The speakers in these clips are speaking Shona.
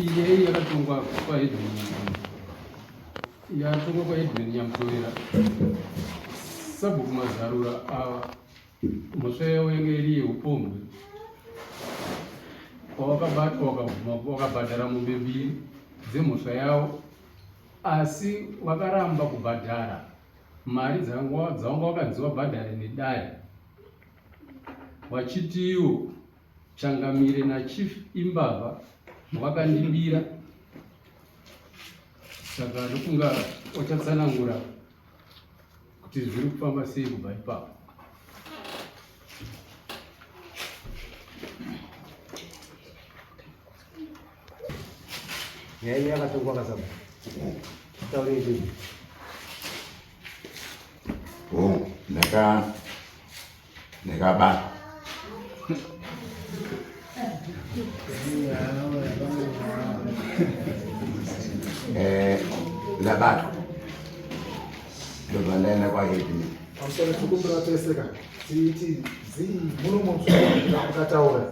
iyeyi yakatongwa kwaedwin yatongwa kwaedwin nyamutowera sabhuku mazarura ava mhosva yavo yanga iri yeupombwe kwawakabatwa wakabhadhara mombe mbiri dzemhosva yavo asi wakaramba kubhadhara mari dzawanga wakanzi wabhadhare nedare wachitiwo Changamire naChief imbavha vakandibira saka ndofunga wachatsanangura kuti zviri kufamba sei kubva ipapo. nyaya iya yakatongwa kasaba taure izvozvi ndaka Ndakabata. Eh, ndabatwa. Ndobva ndaenda kwa head me. Pamusoro tikumbira tese ka. Titi zii muno mumswa kutaura.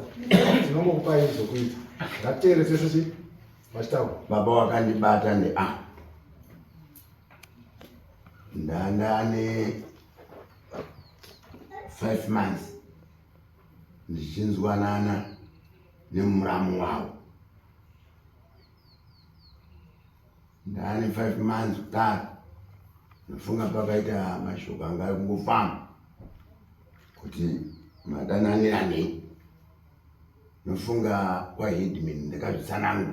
Tinongokupa izvo kuita. Ngatere tese chi vachitaura. Baba wakandibata ndi ah. Ndandane five months ndichinzwanana nemuramu wavo ndaane five months kudaro ndofunga pakaita mashoko anga kungofamba kuti madananiranei nofunga kwaheadman ndakazvitsanangura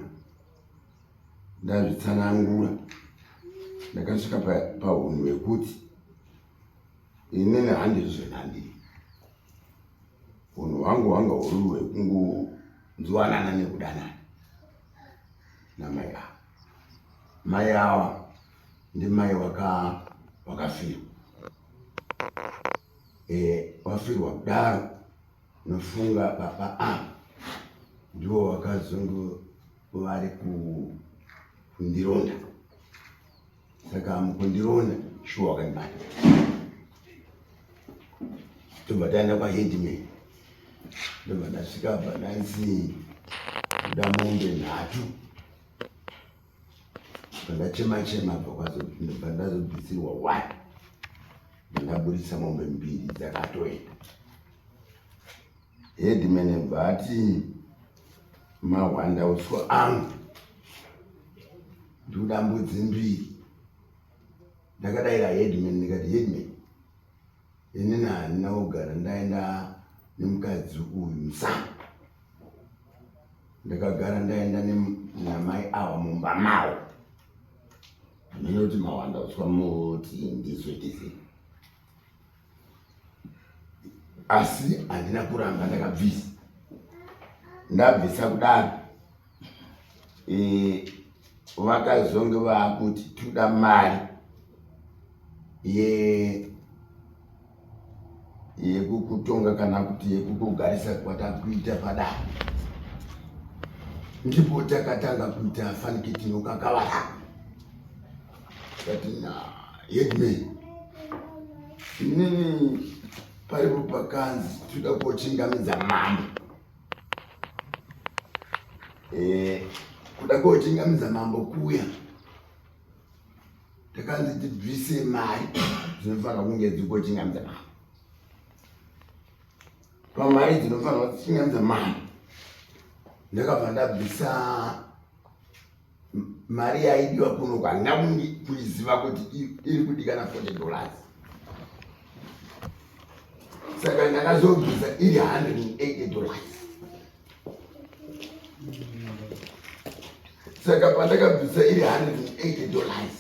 ndazvitsanangura ndakasvika pahunhu hwekuti inini handiri zvenandiri hunhu hwangu hwanga huri hwekungonzwanana nekudanana namai ava mai ava ndimai wakafirwa eh, wafirwa kudaro nofunga baba ava ndiwo wakazungu vari kundironda saka mukundironda shuwa wakandibata tobva taenda kwaheadman ndobva ndasvika bva ndanzi kuda mombe nhatu pandachema chema bva ndazobvisirwa one bva ndaburitsa mombe mbiri dzakatoenda Headman vati mahwanda utso angu ndikuda mbudzi mbiri ndakadaira headman ndikati headman inini handina kugara ndaenda nemukadzi uyu musana ndakagara ndaenda namai ava mumba mavo ndinoti mawanda utswa moti ndizoitizei asi handina kuramba ndakabvisa ndabvisa kudaro eh, vakazonge vakuti toda mari yekukutonga kana kuti yekukugarisa kwatakuita padaro ndipo takatanga kuita fanikitino kakavara But nah, yet me. Nini paripo pakanzi tinoda kochingamidza mambo. Eh, kuda kochingamidza mambo kuya. Takanzi tibvise mari dzinofanira kunge dzikochingamidza mambo. Pamari dzinofanira kuchingamidza mambo. Ndakabva ndabvisa mari yaidiwa kuno kwandina kuiziva kuti iri kudikana 40 dollars saka ndakazobvisa iri 180 dollars saka pandakabvisa iri 180 dollars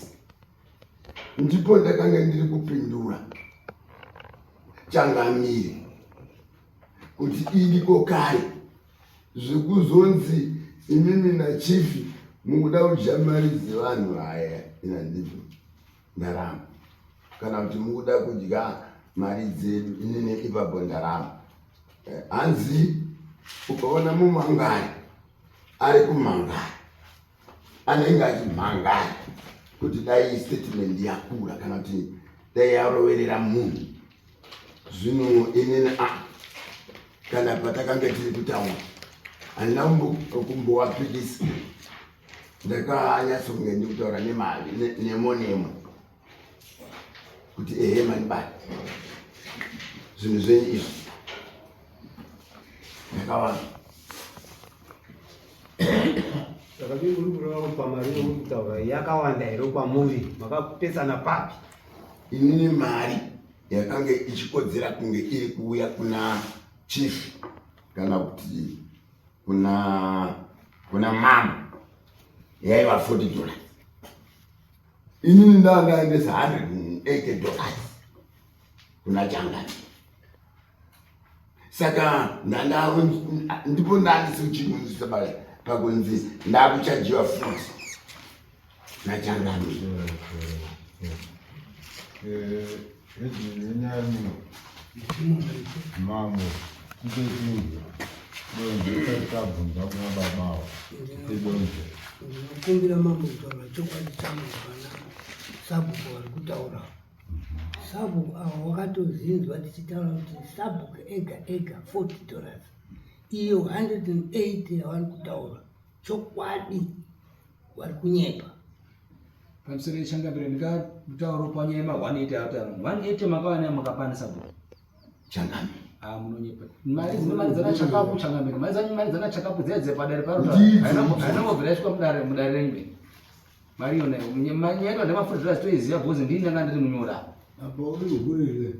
ndipo ndakanga ndiri kupindura changamire kuti indiko kare zvekuzonzi imimi nachief mukuda kudya mari dzevanhu haya ina ndizvo ndarama kana kuti mukuda kudya mari dzedu inini ipapo ndarama eh, hanzi ukaona mumangari ari kumangari anenge achimhangana kuti dai statement yakura kana kuti dai yaroverera munhu zvino inini a kana patakanga tiri kutaura handina kumbowapikisa ndakanyatsokunge ndikutaura nemavo nemo nemo kuti ehe mani bani zvinhu zvenyu izvi ndakavana yakawanda here kwamuri makapesana papi inini mari yakange ichikodzera kunge iri kuuya kuna chief kana kuti kuna kuna mama yaiva 40 dollars inini ndandaendesa 180 dollars kuna changani saka ndipo ndandisiuchimuisa pakunzi ndakuchajiwa futi nachangani eh, eh, ndinokumbira mambo kutaura chokwadi changu vana sabhuku vari kutaura sabhuku avo wakatozinzwa tichitaura kuti sabhuku ega ega 40 dollars iyo 180 yavari kutaura chokwadi wari kunyepa pamusoro yechangabira ndikatauro panyaya ma 180 ataura 180 makawana makakwanisa kuti changami ah, munonyepa mari dzine mari dzana chakapu changamira mari dzanyu mari dzana chakapu dziya dzepadare parota haina mobvira yasvika mudare mudare rengwe mari yona mari yaitwa ndemafurira zitoiziva bhozi ndini ndanga ndiri munyora apa uri ukurire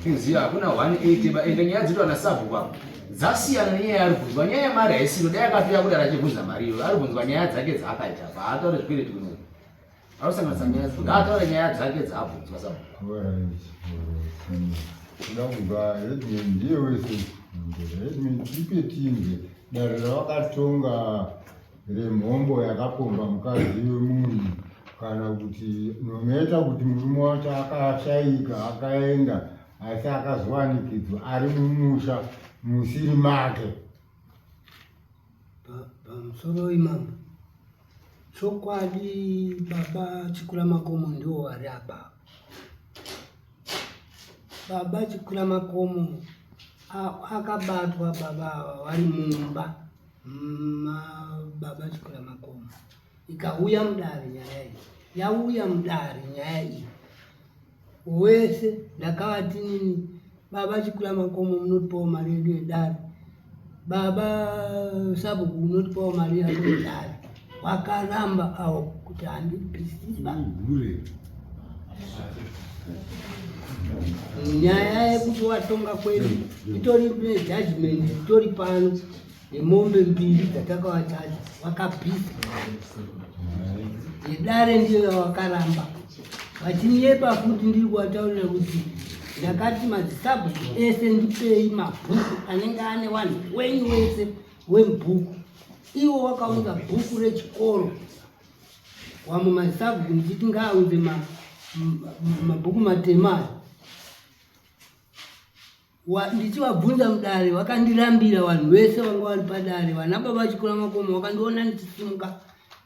Inziva hakuna 180 ba ende nyaya dzitwa na sabu kwa dzasiyana nenyaya ari kunzwa nyaya yemari haisiro dai akafira kudara achibvunza mari iyo ari kunzwa nyaya dzake dzaakaita pa haataure zvikwere tikuno arosanganisa nyaya dzake haataure nyaya dzake dzaabvunzwa sabu ndakubva headman ndiye wese headman tipe tinge dare ravakatonga remhombo yakapomba mukadzi wemunhu kana kuti nometa kuti murume wacho akashaika akaenda asi akazowanikidzwa ari mumusha musiri make pamusoro imambo chokwadi baba chikura makomo ndiwo ari apa baba chikura makomo akabatwa baba ava vari mumba Mababa Chikura Makoma, ikauya mudare nyaya iyi yauya mudare nyaya iyi wese ndakavati nini baba Chikura Makoma munotipawo mari yedu yedare baba Sabuku munotipawo mari yako yedare vakaramba avo kuti handibisina nyaya yekuti watonga kwedu itori nejudgment itori pano yemombe mbiri dzatakavachaja vakabhisa yedare ndiyo yavakaramba vachinyepa futi ndiri kuvataurira kuti ndakati madzisabhuku ese ndipei mabhuku anenge ane vanhu wenyu wese wemubhuku iwo wakaunza bhuku rechikoro wamwe masabhuku ndichiti ngaaunze mabhuku matema ayo ndichivabvunza mudare vakandirambira vanhu vese vanga vari padare vana baba vachikura makomo vakandiona ndichisimuka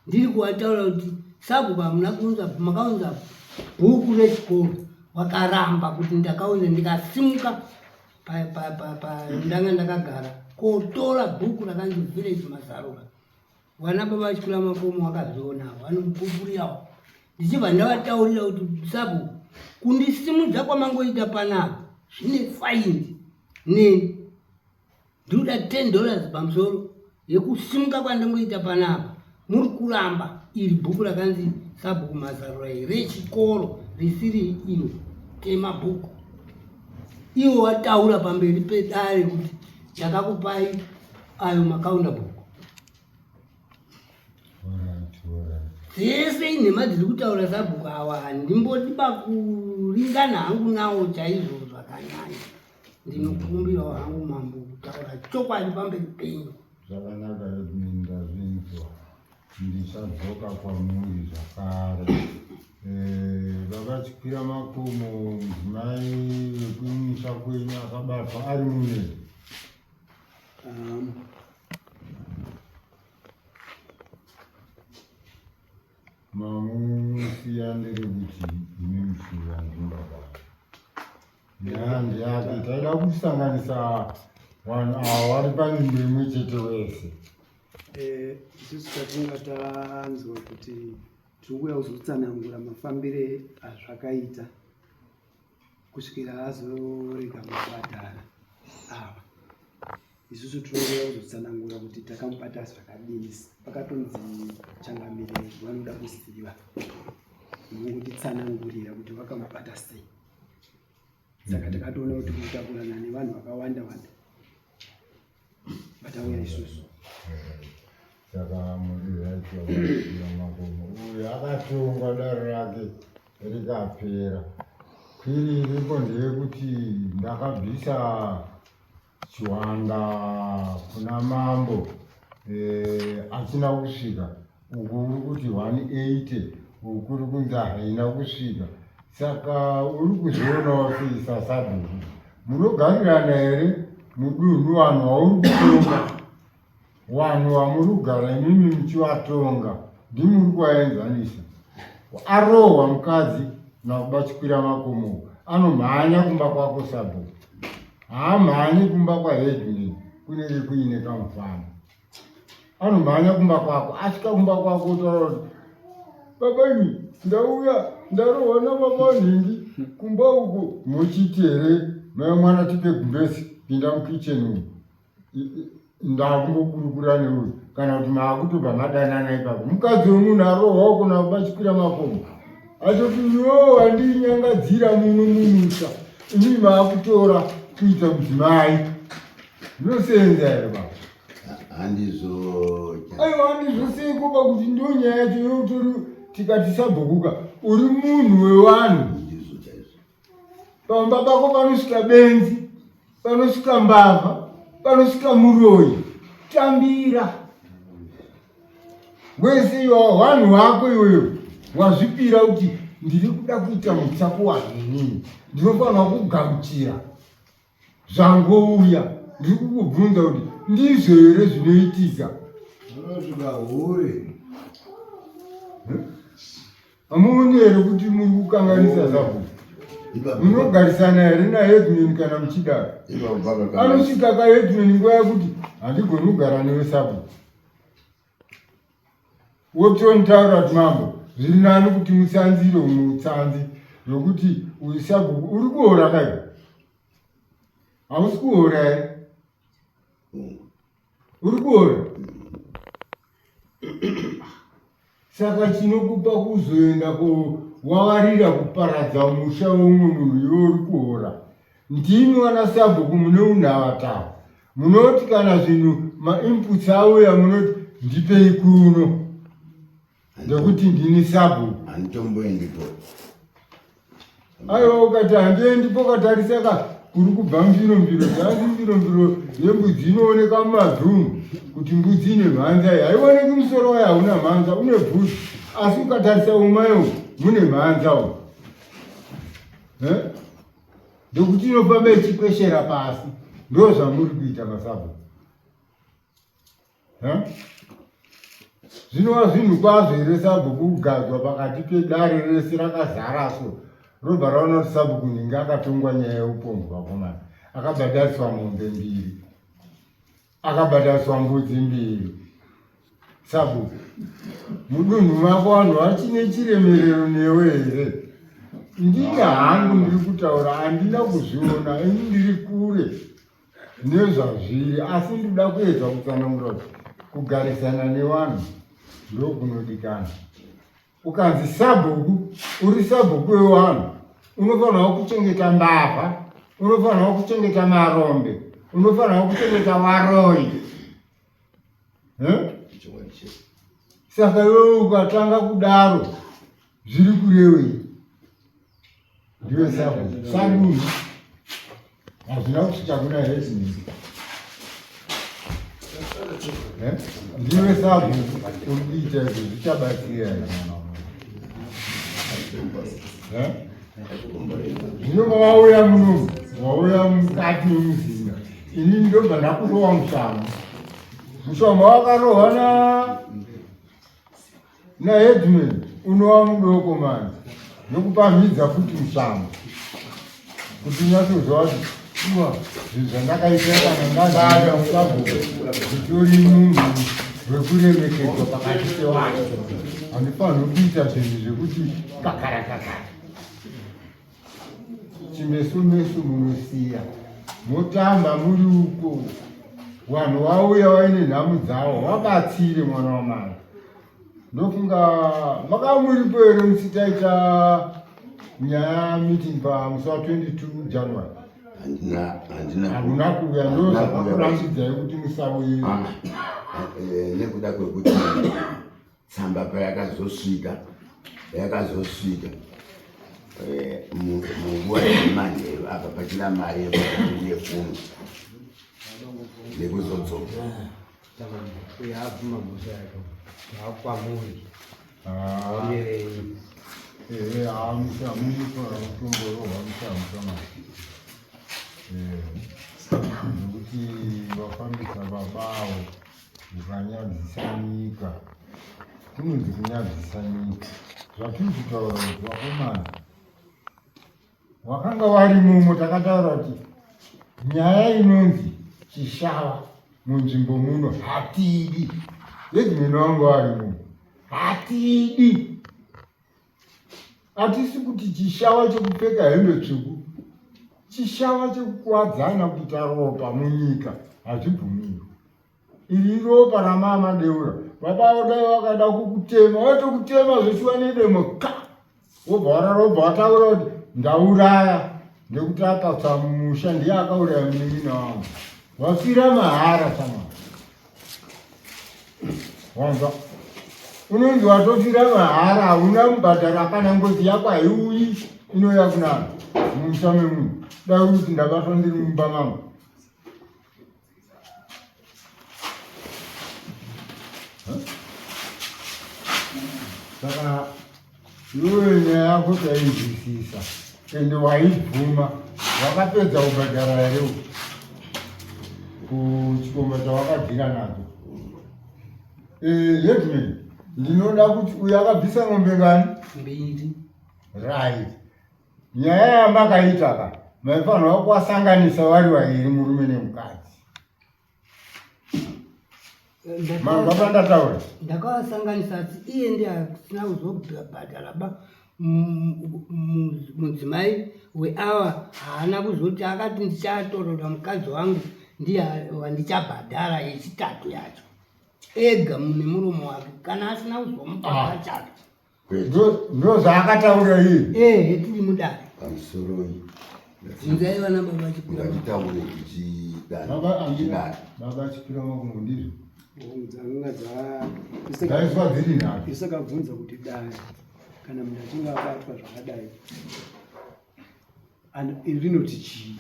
ndiri kuvataura kuti sabhuku hamuna kuunza makaunza bhuku rechikoro vakaramba kuti ndakaunza ndikasimuka ndanga ndakagara kotora bhuku rakanzi village mazarura vana baba vachikura makomo vakazvionawo vanopupuriyawo ndichibva ndavataurira kuti sabu kundisimudza kwamangoita panapa zvine faindi neni ndinoda ten dollars pamusoro Yekusimuka kwandingoita panapa muri kuramba iri bhuku rakanzi sabhuku mazarura rechikoro risiri ino tema bhuku iwo wataura pamberi pedare kuti chakakupai ayo makaunda bhuku dzese inhema dziri kutaura sabhuku awa handimbodi bakuringana hangu nawo chaizvo zvakanyanya ndinokumbirawo hangu mambo kutaura chokwadi pamberi penyu zvakanaka edmin ndazvinzwa ndichadzoka kwamuri zvakare eh, vakachikwira makomo mudzimai wekumusha kwenyu akabatwa ari mune um. mamusiya ndiri kuti imi muchivanzimba vavo Nyanzvi yake taida kusanganisa vanhu ava vari panzvimbo imwe chete wese. Eh, isusu tatinga tanzwa kuti tiri kuuya kuzotsanangura mafambire azvakaita kusvikira azorega mabhadhara ava isusu tinoda kuzotsanangura kuti takamubata zvakadini pakatonzi changamirei vanoda kuziva nokutitsanangurira kuti vakamubata sei saka takatoona kuti kutakurana nevanhu vakawanda wanda vatauya isusu saka muriaia makomo uyu akatongwa daro rake rikapera kwiri iriko ndeyekuti ndakabvisa Chiwanda kuna mambo eh, achina kusvika uku uri kuti 180 ukuri kunzi haina kusvika saka uri kuzvionawo seisasadhuru munogarirana here mudunhu vanhu vauri kutonga Vanhu vamuri kugara imimi muchivatonga ndimuri kuvaenzanisa. Arohwa mukadzi nakuba chikwira makomo anomhanya kumba kwako sabo haamhanyi kumba kwaheadman kunenge kuine kamufana anomhanya kumba kwako asvika kumba kwako otaura kuti baba imi ndauya ndarohwa nababa nhingi kumba uko muchiti here mai mwana tipe gumbesi pinda mukicheni umu ndakungokurukura neuyu kana kuti maakutobva madanana ipapo mukadzi wemunhu arohwa ukona kubachikwira makomo atoti yo andinyangadzira muno mumusha imi maakutora kuita mudzimai zvinoseenza here baba handizvoa aiwa handizvosei koba kuti ndo nyaya yacho youtori tikati sabhukuka uri munhu wewanhu Pamba pako panosvika benzi, panosvika mbavha, panosvika muroyi. Tambira wese iwawo wanhu wako iyoyo wazvipira kuti ndiri kuda kuita mutsako wanini, ndinofanirwa kugauchira zvangouya ndiri kukubvunza kuti ndizvo here zvinoitika unosvika hure hamuoni here kuti muri kukanganisa zavo munogarisana here naedmin kana muchidaro anosvika kaedmin nguva yakuti handigoni kugara newe sabo wotontaura kuti mambo zviri nani kuti mutsanzire umwe utsanzi zvokuti uyu sabhuku uri kuora kai hausi kuora here uri kuora saka chinokupa kuzoenda ko wavarira kuparadza musha weumwe munhu iwe uri kuora Ndimi vana sabhuku mune unhavatawo munoti kana zvinhu mainputs auya munoti ndipei kuno ndokuti ndini sabhuku handitomboendipo aiwa ukati handiendi pokatarisaka kuri kubva mbirombiro dzanzi mbirombiro yembudzi inooneka mumadhumu kuti mbudzi ine mhanza iyi haioneki musoro wayo hauna mhanza une bhuzi asi ukatarisa umayo mune mhanza u ndokuti inofamba ichikweshera pasi ndo zvamuri kuita masabho zvinova zvinhu kwazvo here sabhuku kugadzwa pakati pedare rese rakazara so robva raona kuti sabhuku ndinge akatongwa nyaya yeupombwa komana akabhadhariswa mombe mbiri akabataswa mbudzi mbiri sabu mudunhu mako vanhu vachine chiremerero newe here ndina hangu ndiri kutaura handina kuzviona ini ndiri kure nezvazviri asi ndida kuedza kutsanangura kugarisana nevanhu ndokunodikana ukanzi sabhuku uri sabhuku wewanhu unofanirwa kuchengeta mbavha unofanirwa kuchengeta marombe unofanirwa kuchengeta varoyi saka iwewe ukatanga kudaro zviri kurewei ndiwe sabo sanduzi hazvina kuti chakuna hezvinii eh? ndiwe sabo uri kuita izvo zvichabatsira eh? zvino mavauya muno vauya mukati memuzinda ini ndobva ndakurowa mushama mushama wakarohana Na headman unowa mudoko manje nokupamhidza futi mushamo kuti nyatsoziva kuti shuwa zvinhu zvandakaitira kana ndazaa musabhuku zvitori munhu wekuremekedzwa pakati pevanhu handifanirwi kuita zvinhu zvekuti kakara kakara chimeso meso munosiya motamba muri uko vanhu vauya vaine nhamu dzavo vabatsire mwana wamana ndofunga makamuripo here musitaita nyaya meeting pamusi wa 22 january handina kuuya ndozvakakurambidzai kuti musauye ah, ah, eh, nekuda kwekuti tsamba payakazosvika yakazosvika eh, munguva yemanheru apa pachina mari yekunefuno nekuzodzoka nekuti vafambisa babawo Mukanyadzisa nyika. Kunonzi kunyadzisa nyika. Zvatiri kutaura kuti vakomana wakanga wari mumo takataura kuti nyaya inonzi chishava munzvimbo muno hatidi. Yedzi mino wangu wari mumo hatidi. hatisi kuti chishava chekupfeka hembe tsvuku chishava chekukuwadzana kuita ropa munyika hazvibvumirwi iri iropa ramama deura baba vodai vakada kukutema vatokutema zveshuwa nedemo ka wobva wararobva wataura kuti ndauraya nekuti akatsamusha ndiye akauraya munin'ina wangu wafira mahara samana wanzwa unonzi watofira mahara hauna mubhadhara kana ngozi yako haiuyi inouya kuna mumusha memunhu dai kuti ndabatwa ndiri mumba mangu saka Iwewe nyaya yako taizwisisa ende waibvuma wakapedza kubhadhara here kuchikomba chawakadhira nacho headman eh, ndinoda kuti uyo akabvisa ng'ombe ngani mbiri right nyaya yamakaita ka maifanirwa kuwasanganisa vari vairi murume nemukadzi mababa ndataura ndakawasanganisa asi iye ndi asina kuzobhadhara ba mudzimai weawa haana kuzoti akati ndichatorora mukadzi wangu ndiye wandichabhadhara yechitatu yacho ega mune muromo wake kana asina kuzomubhadhara ah. chake ndozvaakataura iye ehe tiri mudare pamusoroi inzai vana baba chipiranditaure kuchidababa chipira makungo ndizvo dzanga dzaiswa dziri nhatu isakabvunza kuti dai kana munhu achinge abatwa zvakadai iri rinoti chii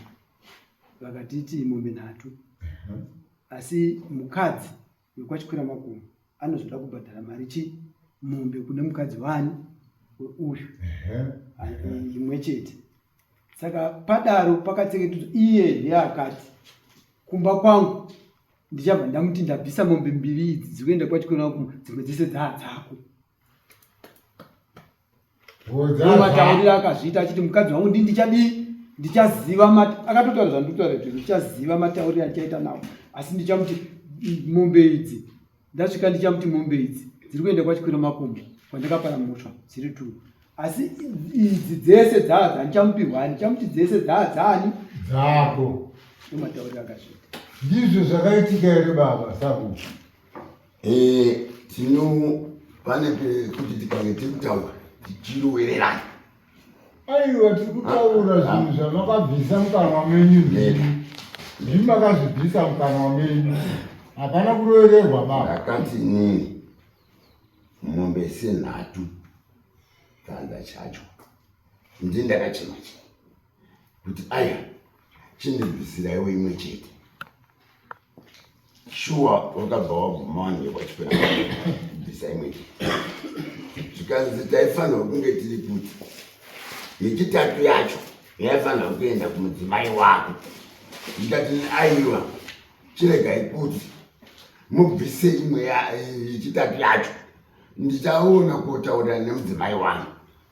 vakatiti mombe nhatu asi mukadzi wekwachikwira makumu anozoda kubhadhara mari chi mombe kune mukadzi wani weuyu imwe chete saka padaro pakatsengetedzwa iye neakati kumba kwangu ndichabva ndamuti ndabvisa mombe mbiri idzi dzikuenda kwachikwira makumu dzimwe dzese dzaadzako mataurira akazviita achiti mukadzi wangu ndi ndichadii ndichaziva akatotaura zvandikutaura kuti ndichaziva matauriri andichaita nawo asi ndichamuti mombe idzi ndasvika ndichamuti mombe idzi dziri kuenda kwachikwira makumbo kwandakapara mhosva dziri two asi idzi dzese dzaa dzandichamupihwani ndichamuti dzese dzaa dzaani dzako ndomatauriri akazviita ndizvo zvakaitika here baba saku Eh, tino pane pekuti tikange tiri kutaura tichirowererana aiwa tiri kutaura zvinhu zvamakabvisa mukanwa menyu ndini ndimi makazvibvisa mukanwa menyu hapana kurovererwa baba ndakati inini mombe senhatu kanda chacho ndi ndakachema chema kuti aya chindirwisiraiwo imwe chete shuwa wakabva waguma wange wachipera kubvisa imwe chete zvikanzi taifanirwa kunge tiri kuti yechitatu yacho yaifanirwa kuenda kumudzimai wako ndikati aiwa chiregai kuti mubvise imwe yechitatu yacho ndichaona kutaurira nemudzimai wangu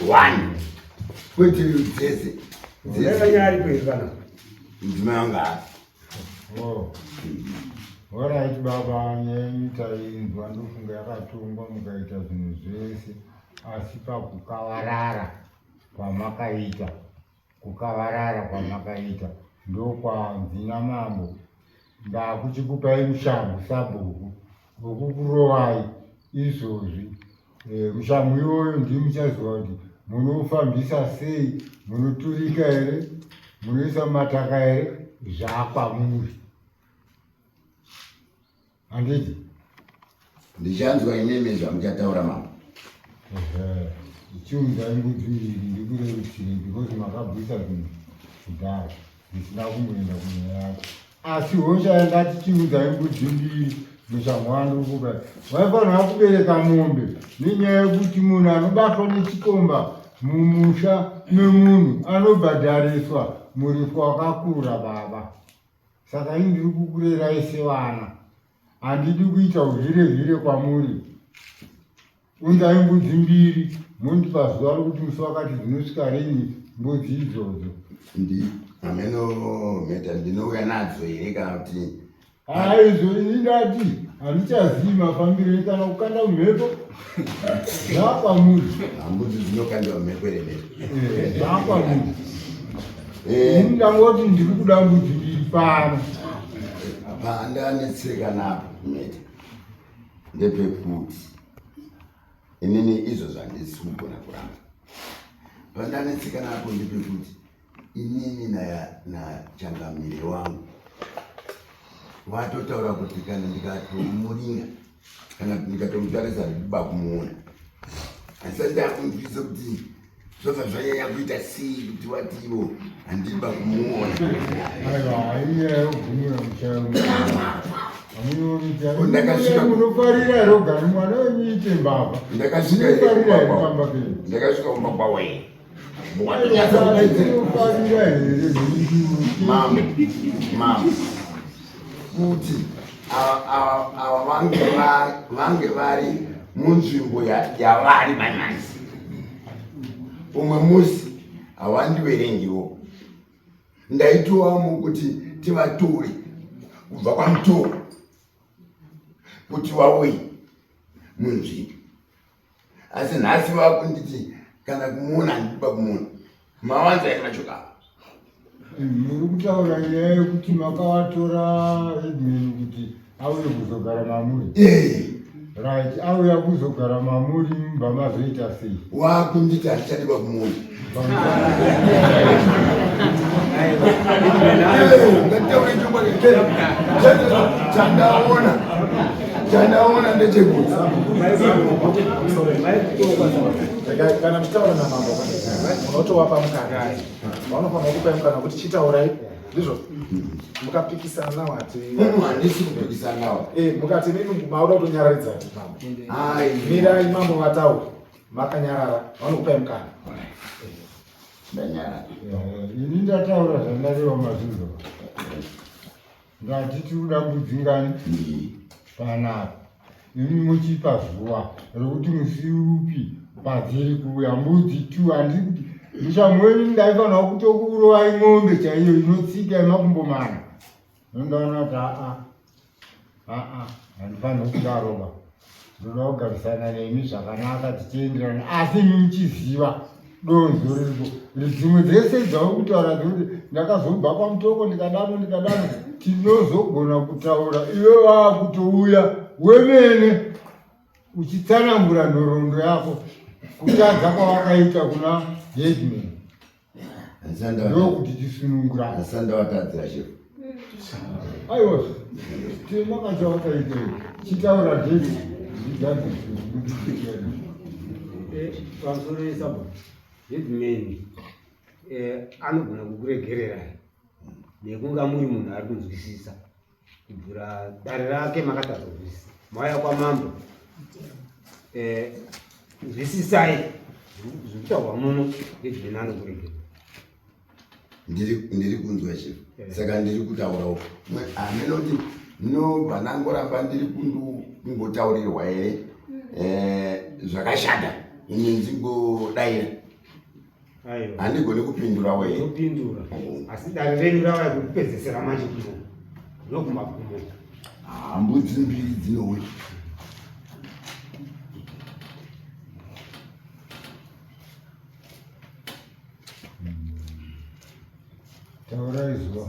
One. Wait till you taste it. Unaweza nyari kwa hivana. Mzimeanga. Oh. Wala iti baba nyenyi tainzwa ndofunga yakatungwa mukaita zvinhu zvese asi pakukawarara kwamakaita Kukavarara kwamakaita ndokwanzi namambo ndakuchikupai mushangu sabhuku vokukurovai izvozvi e, mushangu iyoyo ndii muchaziva kuti munofambisa sei munoturika here munoisa mataka here zvakwamuri Handiti? Ndichanzwa imimi zvamuchataura mama. Ehe. Chiunzai mbudzi mbiri ndikurerusire because makabvisa zvinhu kudhara ndisina kumboenda kunyaya yako. Asi hosha yandati chiunzai mbudzi mbiri muchamwandukuka vaifanira kubereka mombe nenyaya yekuti munhu anobatwa nechikomba mumusha memunhu anobhadhariswa muripo wakakura baba Saka ini ndiri kukurerai sevana, handidi kuita uzvire zvire kwamuri. Unzai mbudzi mbiri mondipa zuva rokuti musi wakati dzinosvika rini mbudzi idzodzo. Ndi hameno mheta ndinouya nadzo here kana kuti Haizvo ini ndati handichazivi mafambiro ekana kukanda mhepo zvakwamuri hambudzi dzinokandiwa mhepo ere mhepo eh, zvakwamuri eh. ndangoti ndiri kuda mbudzi mbiri pano apa andanetseka napo mete ndepekuti inini izvo zvandisi kugona kuramba pandanetseka napo ndepekuti inini nachangamire wangu vatotaura kuti kana ndikatomuringa kana kuti ndikatomutarisa ndikuba kumuona asati akunzwisa kuti zvobva zvanyanya kuita sei kuti watiwo handiba kumuona ndakasvikamunofarira roga mwana wenyu ite mbavha ndakasvika kumba kwawe kuti ava vange vari munzvimbo yavari manyaisi umwe musi hawandiverengiwo ndaitovamu kuti tivatore kubva kwamutoro kuti vauye munzvimbo asi nhasi vakunditi kana kumuona handikuba kumuona mawanza yake machoka muri kutaura nyaya yekuti makawatora edmin kuti auye kuzogara mamuri eh. right auya kuzogara mamuri mumba mazoita sei wakunditi handichadiba kumuona chandaona chandaona ndechekuti kana muchitaura namambo unotovapa mukana vanofanira kupai mukana kuti chitaurai ndizvo mukapikisana nawo hati handisi kupikisana nawo mukati mimi mauda kutonyararidza mambo mirai mambo vataura makanyarara vanokupai mukana ndanyarara ini ndataura zvandareva mazvizo ndati tiri kuda kudzingani panapa imi muchipa zuva rokuti musi upi padziri kuuya mbudzi tu handi kuti ndichamweni ndaifanira kutokuurovai ng'ombe chaiyo inotsika yemakumbo mana nondaona kuti aa aa handifanirwe kuda roba ndoda kugarisana nemi zvakanaka tichienderana asi imi muchiziva donzo ririko dzimwe dzese dzava kutaura dzekuti ndakazobva kwamutoko ndikadano ndikadano tinozogona kutaura iwe vava kutouya wemene uchitsanangura nhoroondo yako kutadza kwawakaita kuna headman ndokuti tisunungura asandavatadzira chef aiwa timakadza vakaita chitaura zvese pamusoro yesabha hidmani anogona kukuregererai nekunga muri munhu ari kunzwisisa Kuvhura dare rake makatadza kuzvisi. Mauya kwamambo. Eh, zvisisai zvitaurwa muno ngezvinani kuregera. Ndiri ndiri kunzwa chief. Eh. Saka ndiri kutaura uko. Ameno kuti no vanangoramba ndiri kundu kungotaurirwa here. Eh, zvakashanda. Ini ndingodaira. handigoni kupindura weupindura mm. asi dare renyu rava kupedzesera manje kuno nokumagumo hambudzi mbiri dzinowe taurai zuva